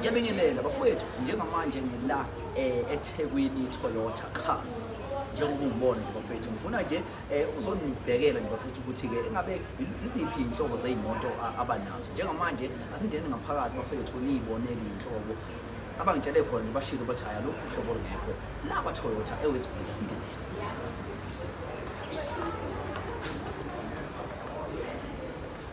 Ngiyabingelela bafowethu njengamanje ngila eh, eThekwini Toyota Cars njengoba ungibona nje bafethu ngifuna nje eh, uzonibhekela nje bafethu ukuthi-ke engabe iziphi iy'nhlobo zey'moto abanazo njengamanje asingene ngaphakathi bafethu niyibonele iy'nhlobo abangitshele khona nje bashile ukuthi hhayi alokhu uhlobo lungekho la kwatoyota ewesibili asingenele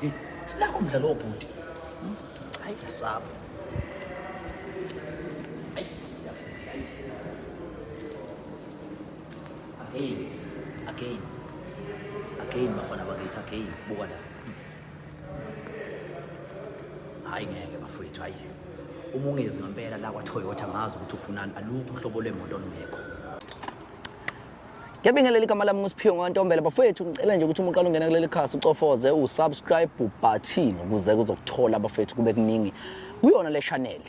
Hey, sinako umdlalo wobhuti. Hayi yasaba. Hey, again. Again bafana bakithi again buka la. Hayi ngeke bafowethu hayi. Uma ungezi ngempela la kwa Toyota ngazi ukuthi ufunani alukho uhlobo lwemoto olungekho. Ngiyabingelela igama lami nguSiphiwe Ntombela bafethu ngicela nje ukuthi umuqala ungena kuleli khasi ucofoze usubscribe button ukuze kuzokuthola abafethu kube kuningi kuyona le channel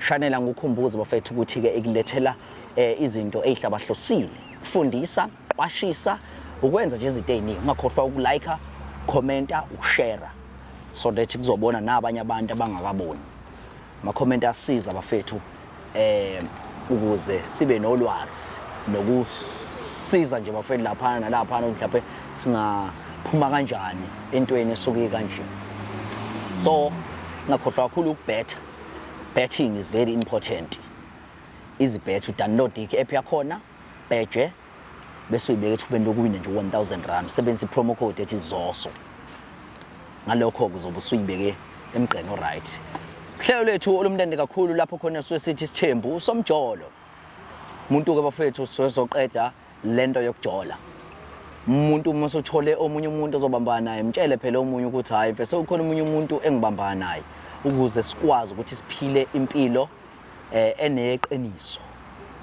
channel angukhumbuze bafethu ukuthi ke ikulethela eh, izinto ezihlabahlosile kufundisa qwashisa ukwenza nje izinto eziningi ungakhohlwa ukulike commenta ukushare so that kuzobona nabanye abantu abangakaboni Ma comment asiza bafethu eh ukuze sibe nolwazi nokusiza nje bafethu lapha nalapha mhlawumbe singaphuma kanjani entweni esuke kanje. So ngakhohlwa kakhulu ukubhetha. Betting is very important. Izibhethu download i-app yakhona, bheje bese uyibeka ethubeni lokuwina nje 1000 rand usebenzisa i-promo code ethi zoso ngalokho-ke uzobe usuyibeke emgqeni oright uhlelo lwethu olumnandi kakhulu lapho khona suke sithi isithembu usomjolo umuntu-ke bafethu siwezoqeda le nto yokujola umuntu uma usuthole omunye umuntu ozobambana naye mtshele phela omunye ukuthi hhayi mfese ukhona omunye umuntu engibambana naye ukuze sikwazi ukuthi siphile impilo eh eneqiniso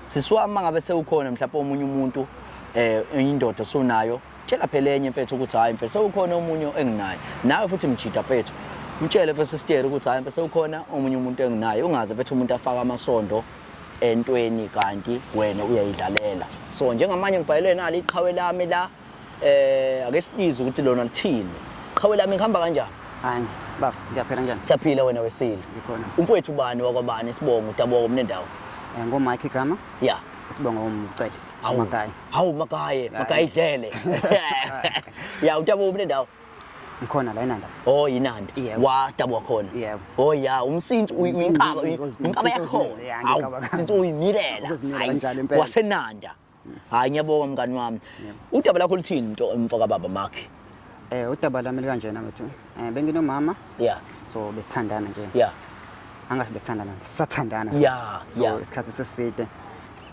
sisi wami mangabe sewukhona mhlawumbe omunye umuntu eh indoda osunayo tshela phela enye mfethu ukuthi hayi mfethu sewukhona omunye enginaye nawe futhi mjida mfethu mtshele mfethu sister ukuthi hayi mfethu sewukhona omunye umuntu enginaye ungaze mfethu umuntu afaka amasondo entweni kanti wena uyayidlalela so njengamanje ngibhalele nali iqhawe lami la Eh ake siyize ukuthi lona lithini. Qhawe lami ngihamba kanjani? Hayi, bafo, ngiyaphela njani? Siyaphila wena wesile. Ngikhona. Umfowethu ubani wakwabani isibongo udabuka komne ndawo? Eh ngoMike igama? Yeah. Isibongo umcele. Hawu Makayi. Hawu Makayi, Makayi dlele. Ya udabuka komne ndawo? ngikhona la enanda oh yinanda wadabwa khona yebo oh ya umsinti uyinkaba inkaba yakhona since uyimilela wasenanda hayi ngiyabonga mngani wami udaba lakho luthini nto emfo kababa makhe eh udaba lami likanjena mfethu eh benginomama yeah so besithandana nje yeah angathi besithandana sisathandana yeah so yeah. isikhathi seside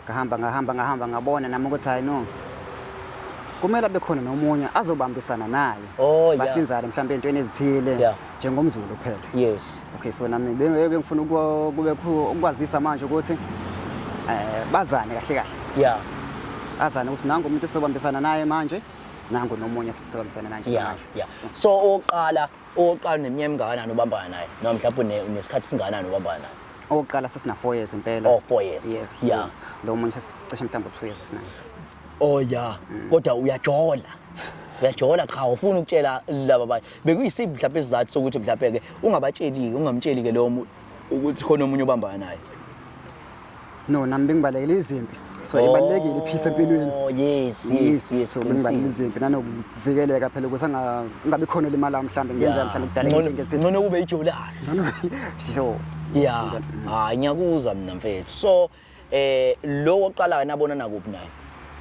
ngahamba ngahamba ngahamba ngabona nami ukuthi hayi no kumele abe khona nomunye azobambisana naye oh, yeah. basinzane mhlawumbe entweni ezithile yeah. njengomzulu kuphela yes okay so nami bengifuna kube ukwazisa manje ukuthi eh bazane kahle kahle yeah azane ukuthi nangu umuntu esobambisana naye manje nangu nomunye futhi sobambisana naye nje manje yeah so oqala oqala neminyaka emingakana obambana naye noma mhlawumbe unesikhathi singakanani obambana naye oqala sesina 4 years impela oh 4 years yes yeah lo munye sesicishe mhlawumbe 2 years sina oh yeah mm. kodwa uyajola uyajola cha ufuna ukutshela laba bekuyisiphi mhlawumbe isizathu sokuthi mhlawumbe ke ungabatsheli-ke ungamtsheli ke lowo muntu ukuthi khona omunye obambana naye no nami bengibalekela izimpi so oh, ibalulekile iphisa empilweni oh, yes yes yes so bengibalekela izimpi nanokuvikeleka phela ukuthi angabi khona limala mhlawumbe ngenzeka mhlawumbe kudala ngethi ngcono kube ijolasi so yeah hayi ngiyakuzwa mina mfethu so eh lo oqala wena abona nakuphi naye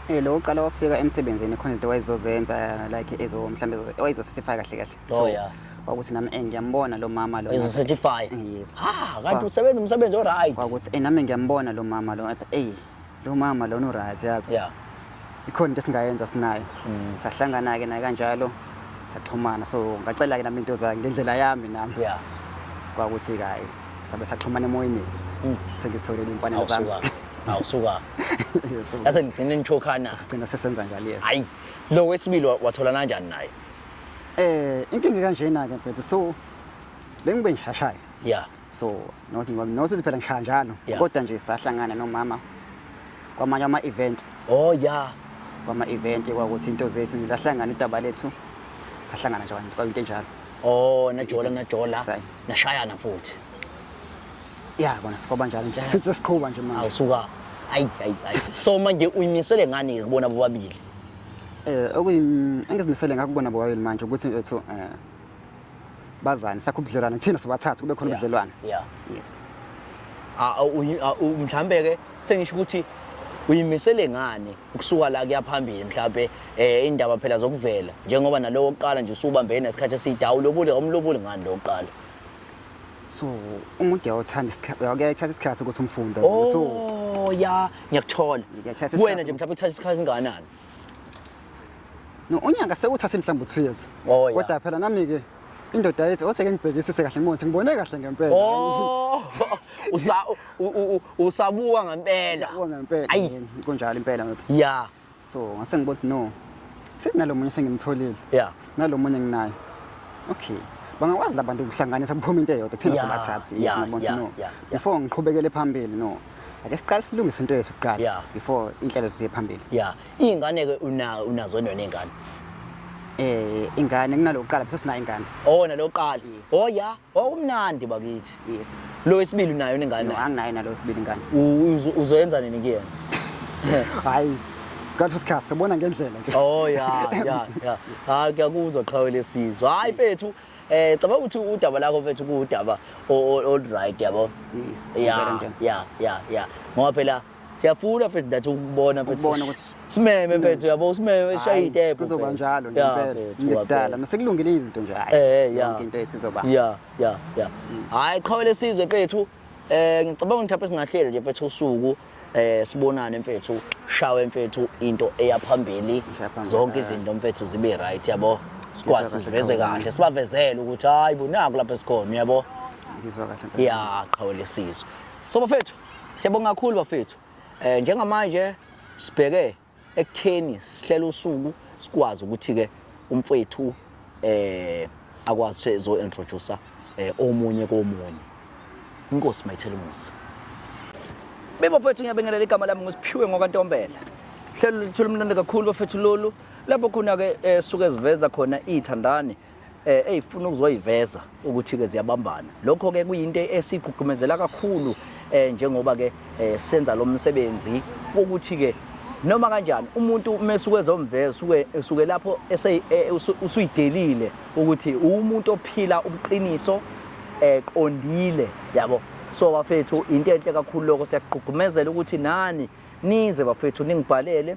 eh lo oqala wafika emsebenzini khona into wayezozenza like ezo mhlambe wayezosifaka kahle kahle oh, so yeah kwakuthi nami eh, ngiyambona lo mama lo ezosatisfy eh, yes ah kanti usebenza umsebenzi o right kwakuthi eh nami ngiyambona lo mama lo athi eh lo mama lo no right yazi yeah ikhona into esingayenza sinaye mm. sahlangana-ke naye kanjalo saxhumana so ngacela-ke nami into zayo ngendlela yami nami yeah. kwakuthi kayi sabe saxhumana emoyeni mm. sengizitholele imfanelo zami awusuka yase ngigcine nithokhana sigcina sesenza njalo yes hayi lo wesibili wathola kanjani naye eh inkinga kanjena ke mfethu so bengibe ngishashayo yeah so nothi phela ngishaya njalo Yeah. kodwa nje sahlangana nomama kwamanye ama-event oh ya kwama-event kwakuthi into zethu nje lahlangana idaba lethu sahlangana nje kwayinto- kwayinto enjalo oh najola najola Sayi. nashayana futhi ya kona sikwaba njalo nje sithi sesiqhuba nje manje awusuka ayi ayi ayi so manje uyimisele ngani kubona bobabili um engizimisele ngakubona bobabili manje ukuthi ethu um bazane sakho ubudlelwane thina sobathathu kube khona ubudlelwane yeah yes ah, ah, ah, mhlambe ke sengisho ukuthi uyimisele ngani ukusuka la kuyaphambili mhlambe eh indaba phela zokuvela njengoba nalowo oqala nje usubambene nesikhathi esidawulo lobule omlobule ngani lo oqala so umuntu uyathanda isikhathi uyayithatha isikhathi ukuthi umfundo so oh, ya ngiyakuthola wena nje mhlawumbe uthatha isikhathi singakanani No unyaka sekuthatha mhlawumbe 2 years. Oh, yeah. Kodwa phela nami ke indoda yethi othe ke ngibhekisise kahle ngibone ngibone kahle ngempela. Oh. Usa u- u- u- usabuka ngempela. Kuwa ngempela Ayi. yini, kunjalo impela ngempela. Yeah. So ngase ngibothi no. Senginalomunye sengimtholile. Yeah. Nalomunye nginaye. Okay. Bangakwazi labantu ukuhlanganisa kuphuma into eyodwa kuthina Yeah, sobathathu. yeah, Yes ngibona yeah, no. yeah, yeah. Before ngiqhubekele phambili no. ake siqale silungise into yethu kuqala yeah. before inhlelo ziye phambili yeah izingane ke una unazo nona ingane eh ingane kunalokuqala bese sina ingane oh nalokuqala oh yeah oh umnandi bakithi yes lo wesibili unayo ingane no anginayo nalo wesibili ingane uzoyenza nini kuyena hayi kanti sikhathi sibona ngendlela nje oh yeah yeah yeah hayi kuyakuzwa qhawe lesizwe hayi fethu Eh cabanga ukuthi udaba lakho mfethu kuwudaba old right yabo. Yes. Yeah. Yeah, yeah, yeah. Ngoba phela siyafuna mfethu that ukubona mfethu. Ukubona ukuthi simeme mfethu yabo simeme shaye itepo. Kuzoba njalo ngempela. Ngidala masekulungile izinto nje hayi. Eh, yonke into esizoba. Yeah, yeah, yeah. Mm. Hayi qhawele sizwe mfethu. Eh ngicabanga ukuthi apha singahleli nje mfethu usuku eh sibonane mfethu shawe mfethu into eyaphambili zonke izinto mfethu zibe right yabo sikwazi siveze kahle sibavezele ukuthi hayi bunaku lapha sikhona uyabo ngizwa kahle ya qhawe lesizwe so bafethu siyabonga kakhulu bafethu eh njengamanje sibheke ekutheni sihlela usuku sikwazi ukuthi ke umfwethu eh akwazi ukuthi ezo introduce eh omunye komunye inkosi mayithela umusa Bebo mfethu ngiyabingelela igama lami ngusiphiwe ngokwantombela hlelo lithula umnandi kakhulu bafethu lolu lapho khona ke eh, suke siveza khona ithandani eh eyifuna ukuzoyiveza ukuthi ke ziyabambana lokho ke kuyinto esigqugqumezela kakhulu eh njengoba ke eh, senza lo msebenzi ukuthi ke noma kanjani umuntu umesuke ezomveza usuke usuke lapho ese eh, usuyidelile ukuthi umuntu ophila ubuqiniso eqondile eh, yabo so bafethu into enhle kakhulu lokho siyaqhugumezela ukuthi nani nize bafethu ningibhalele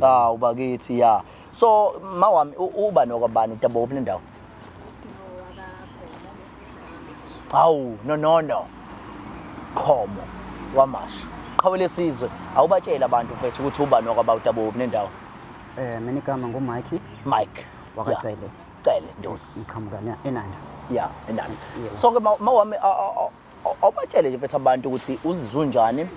hawu bakithi ya so ma wami u- uba nokwabani utaboko kule ndawo hawu nonono khomo wamasha qhawe lesizwe awubatsheli abantu mfethu ukuthi uba nokwaba utaboko kule ndawo Eh mina igama nguMike mike wakacele cele ndosi ngiqhamuka ne- eNanda. ya enani Yebo. so ke ma ma wami a- a- a- awubatshele nje mfethu abantu ukuthi uzizunjani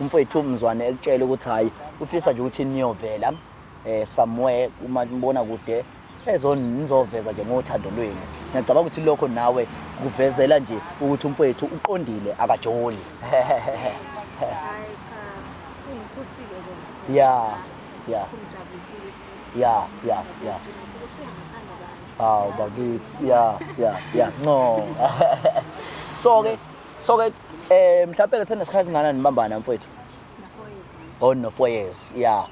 umfethu umzwane ekutshele ukuthi hhayi ufisa nje ukuthi niyovela um eh, somewhere uma nibona kude ezonizoveza nje ngothando lwenu ngiyacabanga ukuthi lokho nawe kuvezela nje ukuthi umfowethu uqondile akajoli ya ya ya ya ya Hawu bakithi. Yeah, yeah, yeah. No. so ke so ke eh mhlawumbe ke senesikhathi singana nibambana mfethu. Oh no 4 years. Yeah.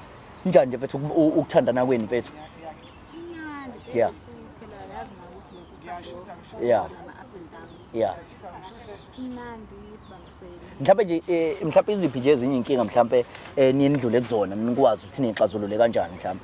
Njani nje mfethu uku- u- ukuthandana kwenu mfethu? Yeah. Yeah. Yeah. Mhlawumbe nje eh, mhlawumbe iziphi nje ezinye inkinga mhlawumbe eh, niye nidlule kuzona nikwazi ukuthi nixazulule kanjani mhlawumbe?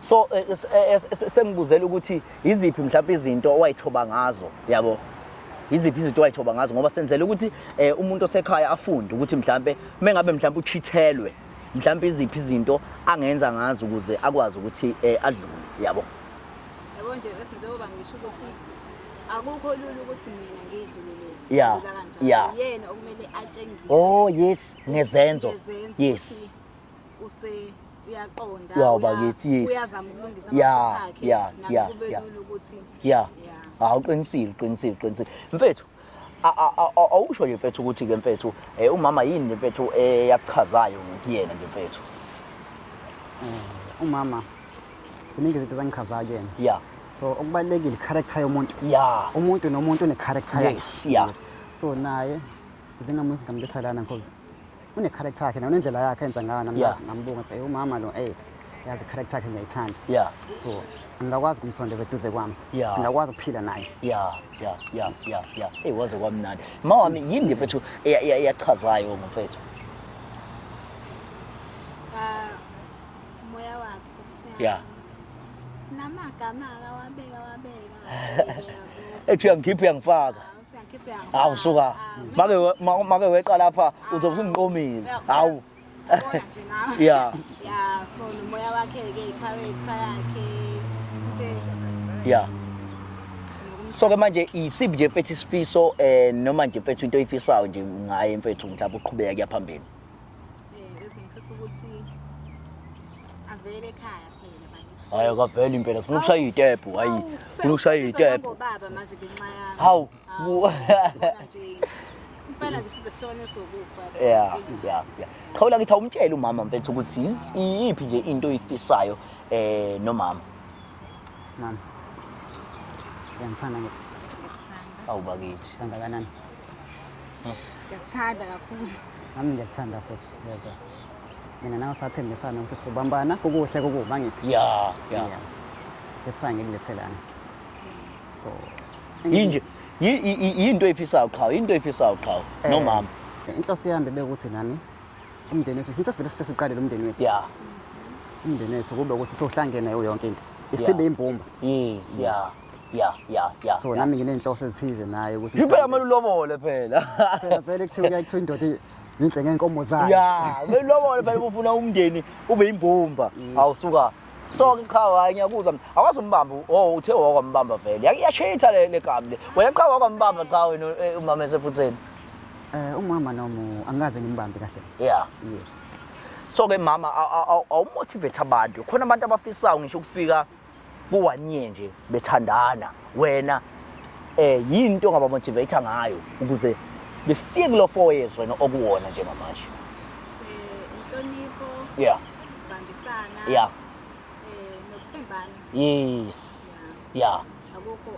so eh, eh, eh, sengibuzela ukuthi yiziphi mhlawumbe izinto owayithoba ngazo yabo yiziphi izinto owayithoba ngazo ngoba senzele ukuthi umuntu osekhaya afunde ukuthi mhlawumbe mengabe mhlawumbe uchithelwe mhlawumbe iziphi izinto angenza ngazo ukuze akwazi ukuthi adlule yabo yabo nje izinto oba ngisho ukuthi akukho lula ukuthi mina ngidlulele yeah yeah yena okumele atshengise oh yes ngezenzo yes use uyaqonda wow bakithi yes uyazama ukulungisa yeah yeah yeah yeah ukuthi yeah hawu uqinisile uqinisile uqinisile mfethu awusho nje mfethu ukuthi ke mfethu eh, umama yini nje mfethu eyakuchazayo eh, kuyena nje mfethu eh, umama ziningi izinto zangichazayo kuyena yeah so okubalekile character yomuntu yeah umuntu nomuntu une character yakhe yes yeah so naye njengamuzi ngamletha lana ngoba une character yakhe na unendlela yakhe enza ngayo nami Yeah. ngambonga ukuthi "Ey, umama lo ey yazi character yakhe ngiyayithanda yeah so ngingakwazi kumsondeza eduze kwami Yeah. singakwazi ukuphila naye ya ya ya ya ya eyi waze kwamnandi ma wami yini mfethu eya- eya- eyachazayo ngomfethu Ah, moya wakhe Nkosi ya yami. namagama akawabeka wabeka ethi uyangikhipha uyangifaka hawu suka make we- ma- make weqa lapha uzobe usungiqomile hawu ya ya for nomoya wakhe-ke i-character yakhe nje ya so ke manje isiphi nje mfethu isifiso um noma nje mfethu into oyifisayo nje ngaye mfethu mhlawumbe uqhubeka kuya phambili um ezingifisa ukuthi avele ekhaya Hayi akaveli impela sifuna ukushaya itepu hayi sifuna ukushaya itepu. Baba manje ngenxa yami. Hawu. Impela ke sizohlone sokufa. Yeah, yeah, yeah. Qhawula ngithi awumtshele umama mfethu ukuthi yiz- iyiphi nje into oyifisayo eh nomama. Mama. Ngiyamthanda nje Ngiyakuthanda. Awu bakithi. kangakanani. Ngiyakuthanda kakhulu. Nami ngiyakuthanda futhi. Yezwa. mina nawe sathembisana ukuthi sobambana kukuhle kukubi angithi ya ya Yeah. that's why ngikulethelana so yinje yi- yi- yi- yinto eyifisayo qhawe yinto eyifisayo qhawe Eh, nomama inhloso yami bekuthi nami umndeni wethu since sivele sesiqalile umndeni wethu ya umndeni wethu kube ukuthi sohlangene nayo yonke into Yeah. isibe imbumba yes ya ya ya ya so ya. nami nginenhloso ezithize naye ukuthi Impela mele ulobole phela. Phela vele kuthiwa kuyakuthiwa indoda Yinhle ngenkomo zayo. Ya, belobole phela ufuna umndeni ube yimbumba. Awusuka. So ke cha hayi ngiyakuzwa. mina. Awazi umbamba. Oh, uthe wakwambamba vele. Yake yashitha le le gabi le. Wena cha wakwambamba cha wena eh, umama esephutheni. Eh umama nomu angikaze ngimbambe kahle. Yeah. Yes. So ke mama aw- aw- aw- awumotivate abantu. Khona abantu abafisayo ngisho ukufika ku-one year nje bethandana wena eh yini into ongabamotivate ngayo ukuze befike kulo four years wena okuwona njengamanje Eh, inhlonipho yeah ukubambisana yeah eh, nokuthembana yes yeah akukho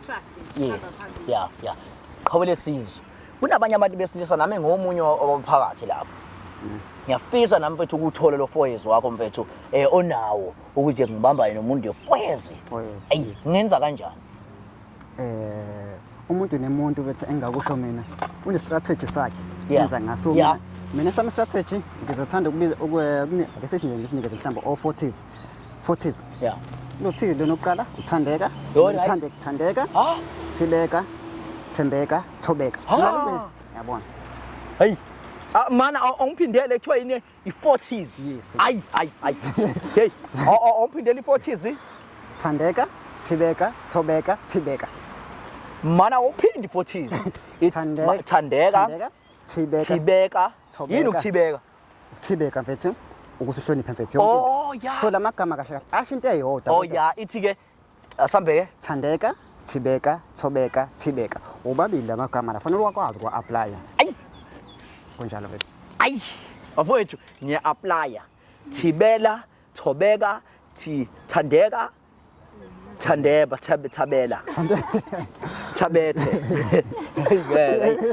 trust nje yes ihamba phambili. yeah yeah qhawe lesizwe kunabanye abantu besilisa nami ngomunye wabaphakathi lapho ngiyafisa nami mfethu ukuthole lo four years wakho mfethu eh onawo ukuthi ngibambane nomuntu efwezi ayi ngenza kanjani eh umuntu nemuntu bethi engakusho mina une strategy sakhe yenza ngaso mina mina sami strategy ngizothanda ukubiza ukuyakesithi nje ngisinikeze mhlawumbe o 40s 40s yeah lothile lona oqala uthandeka uthande kuthandeka ah. thileka thembeka thobeka yabona hey ah, mana awungiphindele kuthiwa yini i-40s ayi ayi ayi hey omphindela i-40s thandeka thibeka thobeka thibeka mana uphindi 40s thandeka thandeka thibeka thibeka yini ukuthibeka thibeka mfethu ukusihlonipha mfethu yonke oh yeah so lamagama kahle kahle asho into eyodwa oh yeah ithi ke asambeke thandeka thibeka thobeka thibeka wobabili la magama la fanele wakwazi ukuwa-aplaya ayi kunjalo bebe ayi bafowethu ngiya-aplaya thibela thobeka thi thandeka thandeba thabe thabela thabethe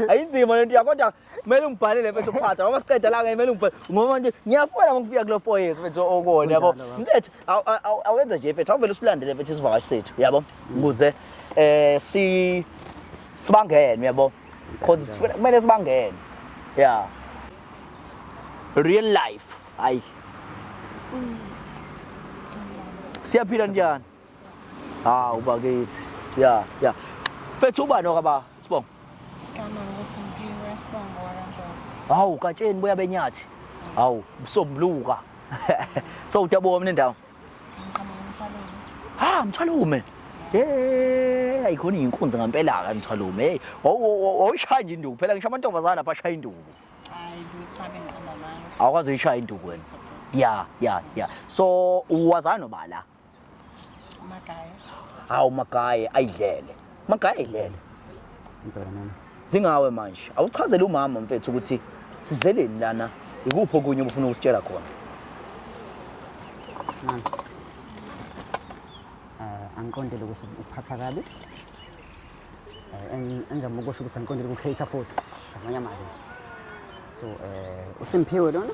ayinzima lento yakodwa kumele ungibhalele mfethu phatha ngoba siqeda la kumele ungibhalele ngoba nje ngiyafuna ngokufika kulo four years mfethu okona yabo mfethu awenza nje mfethu awuvele usilandele mfethu isivakashi sethu yabo ukuze eh si sibangene yabo because sifuna kumele sibangene yeah real life hayi siyaphila njani hawu bakithi ya ya fethu ubani okaba sibongo igama nguSimphiwe Sibongo wakandlovu hawu katsheni buya benyathi hawu usombuluka so utabuka mina ndawo ngiqhamuka emthwalweni ha mthwalume hey ayikhona inkunzi ngampela ka mthwalume hey wawushaya nje induku phela ngisho amantombazana lapha ashaya induku hayi lutho abe ngiqamba manje awukwazi uyishaya induku wena ya ya ya so wazani obala Magaye. Hawu magaye ayidlele. Magaye ayidlele. Impela mama. Zingawe manje. Awuchazele umama mfethu ukuthi sizeleni lana ikuphi okunye obufuna ukusitshela khona. Mama. Uh, angiqondele ukuthi uphatha kabi. Uh, engizama ukusho ukuthi angiqondele ukucater futhi. Ngamanye amazwi. So, uh, uSimphiwe lona?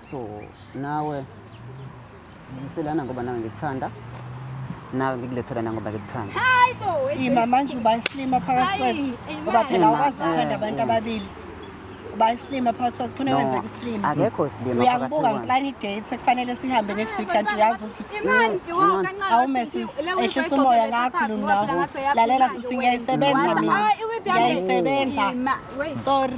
so nawe ngiselana ngoba nawe ngikuthanda nawe ngikulethela nangoba ngikuthanda ima manje uba isilima phakathi kwethu ngoba phela awukwazi ukuthanda abantu ababili uba isilima phakathi kwethu khona kwenzeka isilima akekho isilima uyangibuka ngiplana idate sekufanele sihambe next week kanti uyazi ukuthi awumesis ehlisa umoya ngakhulu ngawo lalela sisi ngiyayisebenza mina ngiyayisebenza sorry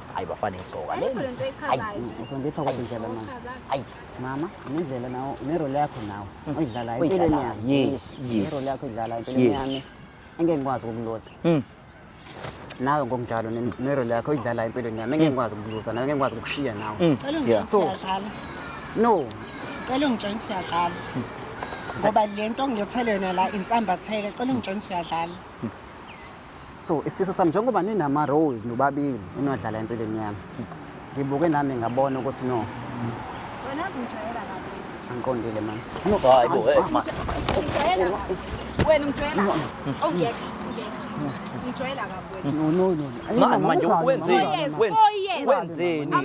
hayi bafana isoka le Ayikho lento echazayo. Ayi, Uzondipha kodwa indlela mama. hayi Mama, nendlela nawo nerole yakho nawo oyidlalayo Hmm. Oyidlalayo, empilweni yami. yes, yes. Nerole yakho oyidlalayo empilweni Yes. yami. Engeke ngikwazi ukukuloza. Mm. Nawe ngokunjalo ne- nerole yakho oyidlalayo empilweni yami. Engeke ngikwazi ukukuloza nawe, engeke ngikwazi ukukushiya nawe. Mm. Cela Yeah. ungitshela ukuthi siyadlala. No, Cela ungitshela ukuthi siyadlala. Ngoba lento ngilethele yona la insambatheke. Cela ungitshela ukuthi siyadlala. so isifiso sami njengoba ninama-role nobabili enodlala empilweni yami ngibuke nami ngabona ukuthi no angiqondile mani manje wenzeni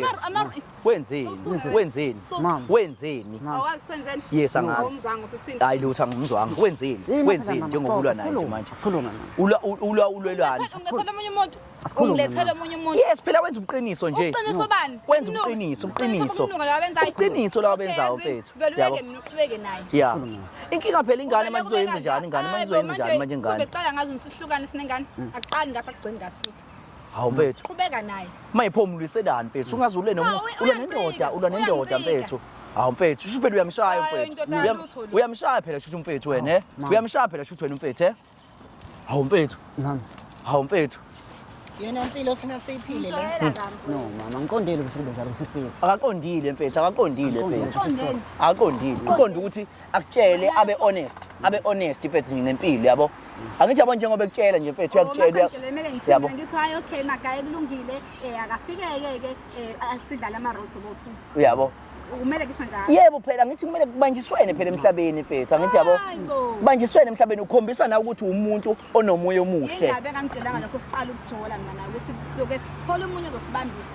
Wenzeni? Wenzeni? Mama. Wenzeni? Awasenzeni? Yes angazi. Awumzanga ukuthi uthini? Hayi lutho angimzwanga. Wenzeni? Wenzeni njengokulwa naye nje manje? Khuluma mama. Ulwa ulwa ulwelani? Ungilethela omunye umuntu. Ungilethela omunye umuntu. Yes phela wenza ubuqiniso nje. Ubuqiniso bani? Wenza ubuqiniso, ubuqiniso. Ubuqiniso lawa benzayo mfethu. Yabo. Uqhubeke naye. Yeah. Inkinga phela ingane manje uzoyenza njani ingane manje uzoyenza njani manje ingane? Beqala ngazi nisihlukane sinengane. Akuqali ngathi akugcini ngathi futhi. hawu mfethu qhubeka naye mayiphomuliselani mfethu ungaze ule noma ulwa nendoda ulwa nendoda mfethu hawu mfethu shuthi phela uyamshaya mfethu uyamshaya phela shuthi mfethu wena eh? uyamshaya phela shuthi wena mfethu eh? hawu mfethu hawu mfethu yena impilo ofuna siyiphile le no mama ngiqondile ukuthi kube njalo sifile akaqondile mfethu akaqondile mfethu akaqondile uqonda ukuthi akutshele abe honest abe honest mfethu nje ngempilo yabo angithi yabo njengoba ekutshela nje mfethu uyakutshela uya- Ngitshele kumele ngithini yabo mina ngithi hayi okay magaye kulungile eh akafikeke ke eh asidlale ama roads bothu uyabo kumele kisho njalo yebo phela ngithi kumele kubanjiswene phela emhlabeni mfethu angithi yabo Hayi bo. kubanjiswene emhlabeni ukhombisa na ukuthi umuntu onomoya omuhle ingabe kangitshelanga lokho siqala ukujola mina naye ukuthi siyoke sithole umunye ozosibambisa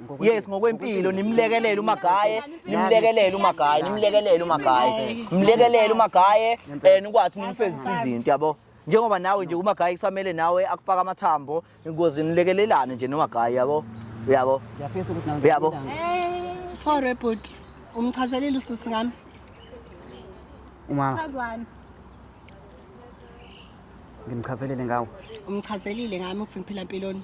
yes ngokwempilo nimlekelele umagaye nimlekelele umagaye nimlekelele umagaye mlekelele umagaye eh nikwazi nimfezisa izinto yabo njengoba nawe nje umagaye kusamele nawe akufaka amathambo ingozi nilekelelane nje nomagaye yabo uyabo uyabo eh, sorry bhuti umchazelile usisi ngami umama chazwani ngimchazelile ngawo umchazelile ngami ukuthi ngiphila mpiloni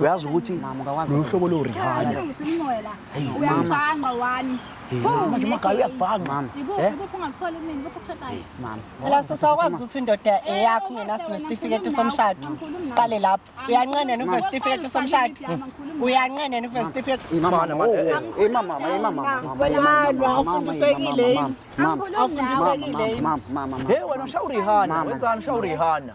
uyazi ukuthi loluhlobo lorihana uyabhanga wani laso sawukwazi ukuthi indoda eyakho ungenaso nesitifiketi somshado siqale lapho uyanqenena ukuve sitifiketi somshado uyanqenena ukuve sitifiketi ufundisekile afundisekile hey wena ushawurihana wenzani ushawurihana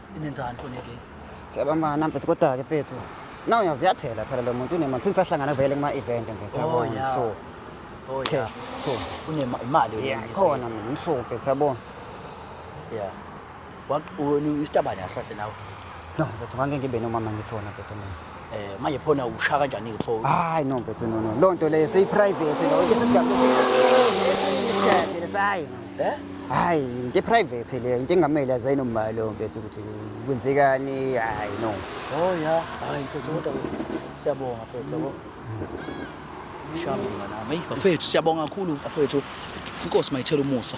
Inenzani khona nje? Siyabambana mfethu kodwa ke mfethu. Nawu uyaziyathela phela lo muntu unemali since ahlangana vele kuma event mfethu Oh, yabona yeah. so Oh yeah. cash so Unemali wena. yeah Lisa. khona mina so mfethu yabona. Yeah. Waqulu istabane asahle nawe. No mfethu ngangeke ngibe nomama ngithona mfethu mina. Eh manje phona usha kanjani ke pho? Hayi no mfethu no no. Lo nto leyo seyi private lo. Ke sesigaba. Sayi. Eh? Hayi, into private le, into engamele azwe nomali lo mfethu ukuthi kwenzekani, hayi no. Oh yeah, hayi mfethu kodwa siyabonga mfethu yabo. Shabu nami. Bafethu siyabonga kakhulu bafethu. Inkosi mayithela umusa.